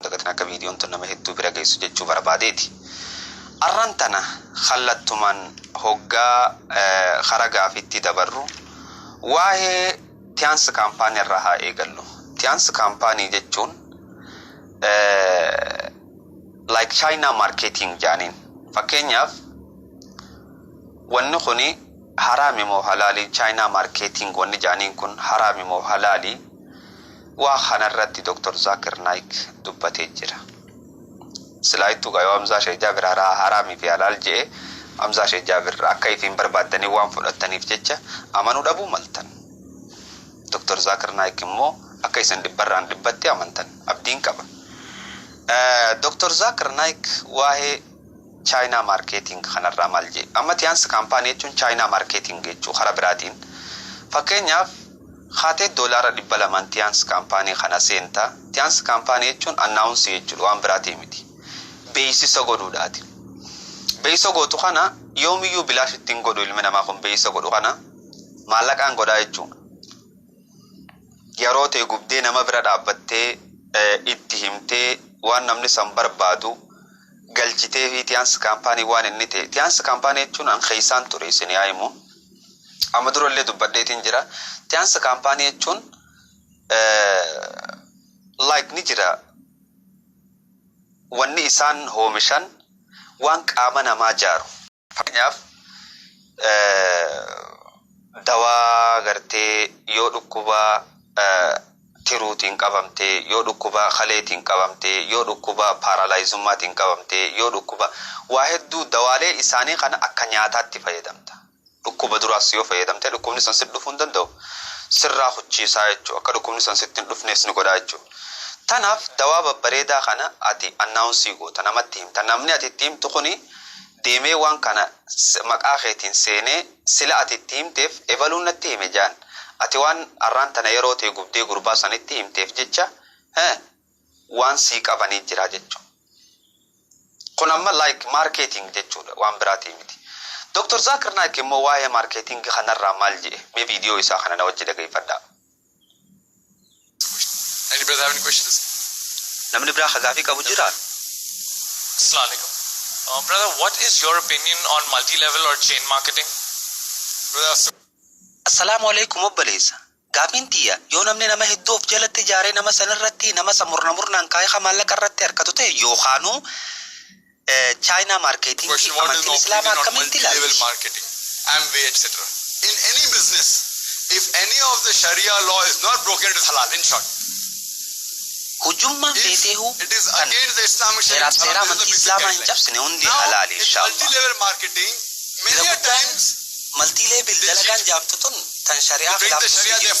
dagatin akka viidiyoon tun nama hedduu bira geessu jechuu barbaadeeti. Arran tana kallattumaan hoggaa kara gaafiitti dabarru waa'ee Tiyaans Kaampaanii irraa haa eegallu. Tiyaans Kaampaanii jechuun like China marketing jaaniin. Fakkeenyaaf wanni kuni haraami moo halaali China marketing wanni jaaniin kun haraami moo halaali Waa kana irratti Doktar Zaakir Naayik dubbatee jira. Silaa ittuu gaa yoo Hamzaa Sheeh Jaabir haraa haraamii fi halaal je'e, Hamzaa Sheeh Jaabir akka ifiin barbaaddanii waan fudhattaniif jecha amanuu dhabuu maltan. Doktar Zaakir Naayik immoo akka isin dhibbarraan dhibbatti amantan abdiin qaba. Doktar Zaakir Naayik waahee Chaayinaa Maarkeeting kanarraa maal je'e? Amma Tiyaans Kaampaanii jechuun Chaayinaa Maarkeeting jechuu karaa biraatiin. Fakkeenyaaf, Kaatee doolaara dhibba lamaan Tians kaampaanii kana seenta. Tians kaampaanii jechuun announce jechuudha waan biraatii miti. Beeksisa godhuudhaati. Beeksisa gootu kana yoomiyyuu bilaashitti hin godhu ilmi namaa kun beeksisa godhu kana maallaqaan godhaa jechuudha. Yeroo tee gubdee nama bira dhaabbattee itti himtee waan namni san barbaadu galchitee fi Tians kaampaanii waan inni ta'e Tians kaampaanii jechuun an keessaan ture isin yaa himu. Amma dura illee dubbadheetiin jira. Tiyaansa kaampaanii jechuun like ni jira wanni isaan hoomishan waan qaama namaa jaaru. Fakkeenyaaf dawaa gartee yoo dhukkuba. tiruutiin qabamte, yoo dhukkuba kaleetiin qabamte, yoo dhukkuba paaraalaayizumaatiin qabamte, yoo dhukkuba waa hedduu dawaalee isaanii kana akka nyaataatti fayyadamta. Dhukkuba duraas yoo fayyadamte dhukkubni sun sitti dhufuu hin danda'u. Sirraa kuchiisaa jechuudha. Akka dhukkubni sun sitti hin dhufnees ni godha jechuudha. Tanaaf dawaa babbareedaa kana ati annaawunsii goota, namatti himta. Namni ati itti himtu kuni deemee waan kana maqaa keetiin seenee Sila ati itti himteef ebaluun natti hime jaan ati waan arraan tana yeroo tee gubdee gurbaa sanitti himteef jecha he waan sii qabanii jira jechu kun amma like marketing jechuudha waan biraatii miti Doktar Zakir Naik immoo waa'ee marketing kanarraa maal je'e mee video isaa kana na wajji dhageeyfadhaa. Any brothers have any questions? Namni biraa ka gaafii qabu jira? Assalamu alaikum. Uh, brother, what is your opinion on multi-level or chain marketing? Brother, so Assalaamu alaikum obboleessa. Gaafiin tiyya yoo namni nama hedduu of jalatti ijaaree nama sanirratti nama isa murna murnaan kaayee ka maallaqa irratti harkatu ta'e yookaanuu Chaayinaa Maarkeetingii fi Amantiin Islaamaa akkamitti ilaalti? Hujummaan feeteehuu tan heeraaf seera Amantii Islaamaa hin cabsine hundi halaali inshaa'allaah. Irra guddaan Multilevel dalagaan jaamtu tun tan shari'aa khilaaftu sii jirti.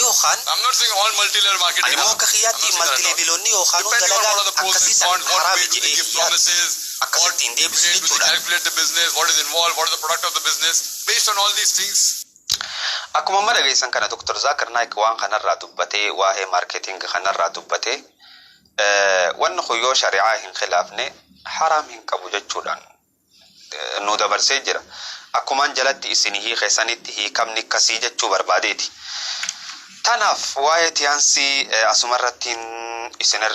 yookaan. Ani immoo akka kiyyaatti maltileeviloonni yookaanuu dalagaan akkasii san haraami jedhee hin yaadu. Akkas ittiin deebisu jechuudhaan. Akkuma amma dhageessan kana Dr. Zaakir Naayik waan kanarraa dubbatee, waahee marketing kanarraa dubbatee, wanni kun yoo shari'aa hin khilaafne haraam hin qabu jechuudhaan nuu dabarsee jira. Akkumaan jalatti issinii hiike sanitti hiikamni akkasii jechuu barbaadeeti. Tanaaf waa'ee tiyansii asumarrattiin isinirraa.